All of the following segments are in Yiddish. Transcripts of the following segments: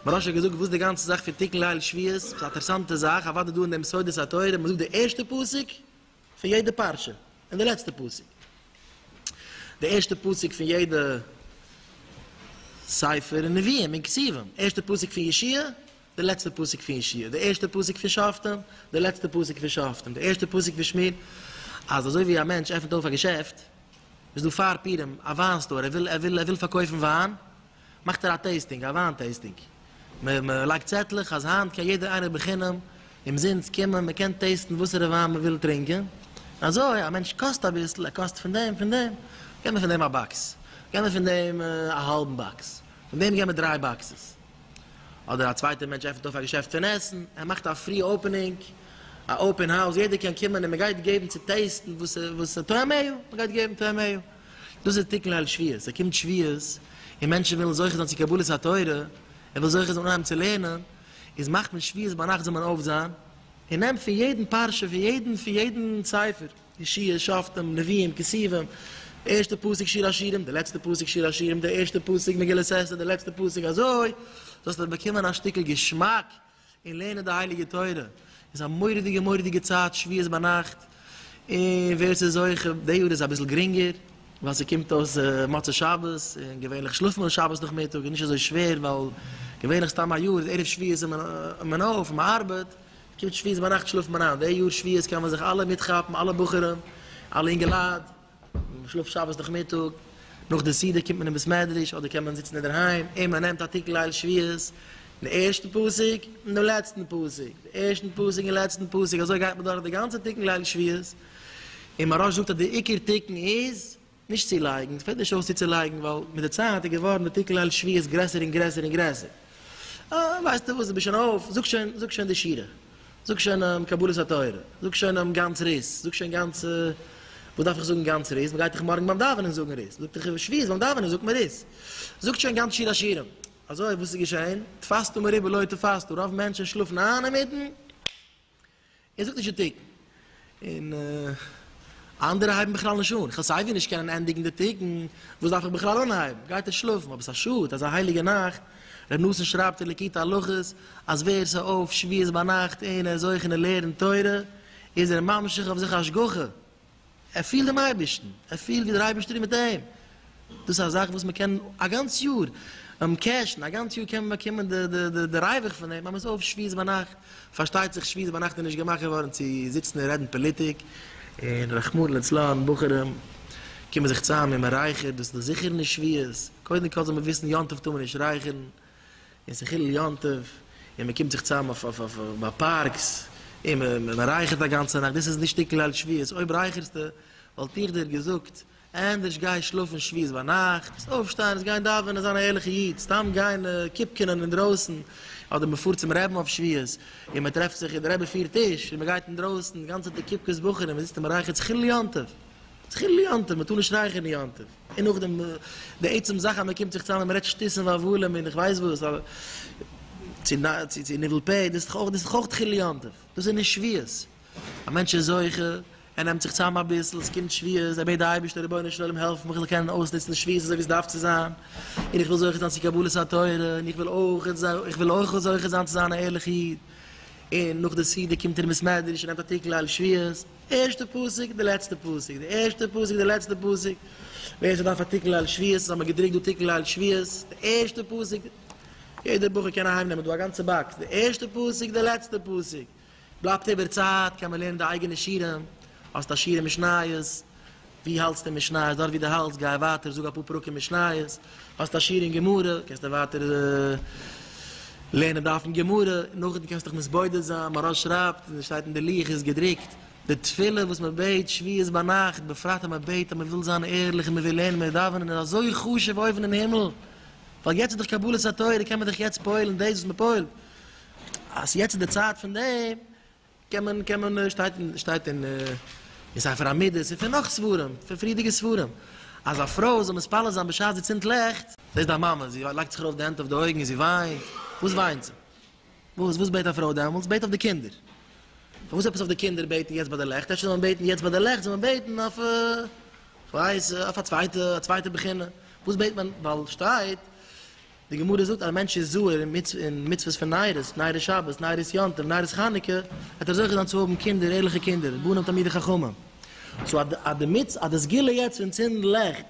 מרש האט געזאגט וואס די גאנצע זאך פון תיקון ליל שביעית, ס'איז א אטערסאנטע זאך, אוודאי דא אין דעם סודות התורה, מ'זאגט די ערשטע פסוק פון יעדע פרשה, און די לעצטע פסוק. די ערשטע פסוק פון יעדע ספר און נביאים און כתובים, ערשטע פסוק פון ישעי', דער לעצטער פסוק פון ישעי', דער ערשטער פסוק פון שופטים, דער לעצטער פסוק פון שופטים, דער ערשטער פסוק פון שמות, אז אזוי ווי א מענטש עפענט אויף א געשעפט, איז דא פאר פירים, א וויין סטאר, ער וויל ער וויל ער וויל פארקויפן וויין, מאכט ער א טעיסטינג, א וויין טעיסטינג, מען מען לייגט צעטלעך אז היינט קען יעדער איינער בחינם, אומזינסט, קומען, מען קען טעיסטן וואסערע וויין מען וויל טרינקען, אזוי א מענטש קאסט אביסל, ער קאסט פון דעם, פון דעם, געב מיר פון דעם א באקס, געב מיר פון דעם א האלבן באקס, פון דעם געב מיר דריי באקסעס. אדער א צווייטע מענטש עפענט אויף א געשעפט פון עסן, ער מאכט א פרי אופענינג, א אופען האוז, יעדער קען קומען און מען גייט געבן צו טעיסטן וואס איז טועמיו, מען גייט געבן טועמיו, דאס איז תיקון ליל שביעית, עס קומט שביעית און מענטשן ווילן זוכה זיין צו קבלת התורה, ער וויל זוכה זיין אנהייבן צו לערנען, איז מאכט מען שביעית ביינאכט זאל מען אויפזיין און נעמט פון יעדן פרשה, פון יעדן ספר. ישעי', שופטים, לוויים, כתובים, די ערשטע פסוק שיר השירים, די לעצטע פסוק שיר השירים, די ערשטע פסוק מגילת אסתר, די לעצטע פסוק, אזוי זאלסטו באקומען א שטיקל געשמאק אין לערנען די הייליגע תורה, איז א מורא'דיגע מורא'דיגע צייט שביעות ביינאכט, און ווער ס'איז זוכה, די יאר איז אביסל גרינגער ווייל ס'קומט אויס מוצאי שבת, און געווענליך שלאפט מען שבת נאכמיטאג, איז נישט אזוי שווער ווייל געווענליך סתם א יאר איז ערב שביעית איז מען אויף און מען ארבעט, קומט שביעית ביינאכט שלאפט מען איין, די יאר שביעית קען מען זיך אלע מיטכאפן, אלע בחורים, אלע אינגעלייט, מען שלאפט שבת נאכמיטאג, נאך די סעודה קומט מען אין בית מדרש אדער קען מען זיצן אינדערהיים, און מען נעמט א תיקון ליל שביעית, דעם ערשטן פסוק און דעם לעצטן פסוק, דעם ערשטן פסוק און לעצטן פסוק, אזוי גייט מען דורך די גאנצע תיקון ליל שביעית, און מהרש זאגט אז די עיקר תיקון איז, נישט צו לייגן, עס פעלט נישט אויס צו צו לייגן ווייל מיט די צייט איז געווארן די תיקון ליל שביעית גרעסער און גרעסער און גרעסער. אה, ווייסטו וואס, דו ביסט שוין אויף, זאג שוין, זאג שוין די שירה, זאג שוין קבלת התורה, זאג שוין גאנץ ר ת, זאג שוין גאנץ, וואס דארף איך זאגן גאנץ ר ת, מען גייט דאך מארגן ביים דאווענען זאגן ר ת, זאגט ער שביעית ביים דאווענען זאגט מען ר ת, זאגט שוין גאנץ שיר השירים. אזוי וואס איז געשען, תפסתו מרובה לא תפסתו, רוב מענטשן שלאפן איין אינמיטן, ער זאגט נישט די תיקון, און אנדערע הייבן בכלל נישט אן, איך וועל סייווי נישט קענען ענדיגן די תיקון, וואס דארף איך בכלל אנהייבן, גייט ער שלאפן, אבער ס'איז א שאד, אזא הייליגע נאכט, ר' נתן שרייבט אין ליקוטי הלכות, אז ווער ס'איז אויף שביעית ביינאכט און ער איז אויך און ער לערנט תורה, איז ער ממשיך אויף זיך השגחה. ער פילט דעם אייבערשטן, ער פילט ווי דער אייבערשטער איז מיט אים, דאס איז א זאך וואס מען קען א גאנץ יאר קעשן, א גאנץ יאר קען מען באקומען די ריווח פון דעם, אז מען איז אויף שביעית ביינאכט, פארשטייט זיך שביעית ביינאכט איז נישט געמאכט געווארן צו זיצן און רעדן פאליטיק, און רחמנא לצלן בחורים קומען זיך צוזאם און מען רייכערט, דאס איז דאך זיכער נישט שביעית, קודם כל זאל מען וויסן יום טוב טאר מען נישט רייכערן, און ס'איז חילול יום טוב, און מ'קומט זיך צוזאם אויף ביי פארקס, און מ'רייכערט א גאנצע נאכט, דאס איז נישט שטיקל ליל שביעית, אויב רייכערסטו, וואלט איך דיר געזאגט, ענדערש גיי שלאפן שביעית ביינאכט, אויפשטיין און גיין דאווענען, זיין א ערליכע איד, סתם גיין קופקענען אינדרויסן, אדער מ'פארט צום רעבין אויף שביעית, און מ'טרעפט זיך און דער רבי פירט טיש, און מ'גייט אינדרויסן, גאנצעטע קופקעס בחורים, מ'זיצט און מ'רייכערט, ס'איז חילול יום טוב. מתחיל ליאנטעוו, מ'טאר נישט רייכערן ליאנטעוו, און נאכדעם די עצם זאך אז מ'קומט זיך צוזאם און מ'רעדט שטותים והבלים און איך ווייס וואס, צו ניבול פה, דאס איז דאך אויך תחיל ליאנטעוו, דאס איז נישט שביעות, א מענטש איז זוכה, ער נעמט זיך צוזאם אביסל, ס'קומט שביעות, ער בעט די אייבערשטער רבונו של עולם העלף מיך איך זאל קענען אויסנוצן די שביעות אזוי ווי עס דארף צו זיין, און איך וויל זוכה זיין צו קבלת התורה, און איך וויל אויך זוכה זיין צו זיין א ערליכע איד, און נאך די סעודה קומט ער אין בית מדרש און נעמט א טיקל על שביעות. ערשטע פסוק די לעצטע פסוק די ערשטע פסוק די לעצטע פסוק ווער ס'דארף א תיקון ליל שביעית האט מען געדרוקט דא תיקון ליל שביעית די ערשטע פסוק יעדער בחור קען אהיים נעמען דא א גאנצע באקס די ערשטע פסוק די לעצטע פסוק בלייבט איבער צייט קען מען לערנען די אייגענע שירים האסט א שירי משניות ווי האלטסטו משניות? דארט ווי דו האלטסט גיי ווייטער זאג אפאר פרקים משניות, האסט א שיעור אין גמרא קענסטו ווייטער לערנען דף אין גמרא, נאכדעם קענסטו דיך מתבודד זיין, מהרש שרייבט און עס שטייט אין די לוח איז געדרוקט, די תפילה וואס מען בעט שביעית ביינאכט, בפרט אז מען בעט אז מען וויל זיין ערליך און מען וויל לערנען, מען וויל דאווענען איז אזוי חשוב אויבן אין הימל, ווייל יעצט איז דאך קבלת התורה קען מען דאך יעצט פועל'ן דאס וואס מען פועל'ט, אז יעצט איז די צייט פון דעם, קען מען קען מען שטייט אין שטייט אין אין ספר המידות און פון נאך ספרים פון פריערדיגע ספרים אז א פרוי זאל מתפלל זיין בשעת זי צינדט לעכט, דאס איז די מאמע זי לייגט זיך ארויף די הענט אויף די אויגן און זי וויינט, וואס וויינט זי? וואס וואס בעט א פרוי דעמאלטס? זי בעט אויף די קינדער, פארוואס עפעס אויף די קינדער בעטן יעצט ביי די לעכט? אפשר זאל מען בעטן יעצט ביי די לעכט זאל מען בעטן אויף כ'ווייס אויף א צווייטע א צווייטע בחינה, וואס בעט מען ווייל שטייט. די גמרא זאגט אז א מענטש איז זהר אין מצוות פון ניירס, ניירס שבת, ניירס יום טוב, ניירס חנוכה, וועט ער זוכה זיין צו האבן קינדער, ערליכע קינדער, בנים תלמידי חכמים. סאו אז די מצוה, אז די סגולה יעצט פון צינדן לעכט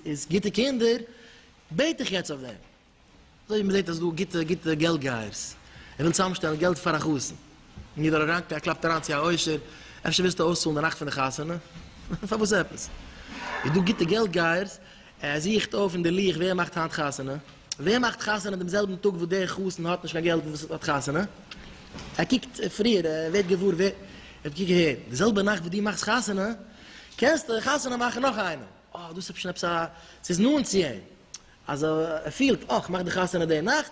איז גוטע קינדער, בעט איך יעצט אויף דעם. אזוי ווי מ'זעט אז ס'דא גוטע גוטע געלט גייערס, ער וויל צוזאמשטעלן געלט פאר א חתן, און יעדער אראנקער קלאפט אריין צו א עושר, אפשר ווילסטו אויסצאלן די נאכט פון די חתונה? פארוואס עפעס? איז דא גוטע געלט גייערס, ער זוכט אויף אין די לוח ווער מאכט היינט חתונה, ווער מאכט חתונה דעם זעלבן טאג וואס דער חתן האט נישט קיין געלט און וואס האט חתונה, ער קוקט פריער, ער ווערט געוואר ווער, ער האט געקוקט אהער, די זעלבע נאכט וואס דו מאכסט חתונה, קענסטו חתונה מאכן נאך איינעם, אה, דאס איז אפשר עפעס א, ס'איז נאנט צו אים, אז ער פילט, אה, כ'מאך די חתונה די נאכט,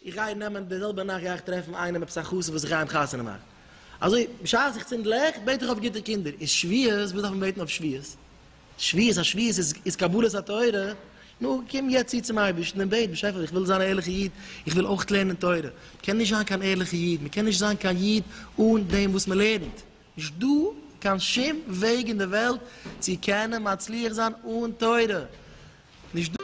איך גיי נעמען די זעלבע נאכט גיי איך טרעפן איינעם עפעס א חתן וואס איך גיי אים חתונה מאכן. אזוי, בשעת איך צינד לעכט, בעט איך אויף גוטע קינדער, און שביעות, וואס דארף מען בעטן אויף שביעות? שוויעס א שוויעס איז איז קבלת התורה, נו קום יעצט צו צום אייבערשטן און בעט באשעפער איך וויל זיין א ערליכע איד, איך וויל אויך לערנען תורה, מ'קען נישט זיין קיין ערליכע איד, מ'קען נישט זיין קיין איד אן דעם וואס מ'לערנט, נישט דא קיין שום וועג אין די וועלט צו קענען מצליח זיין אן תורה, נישט דא.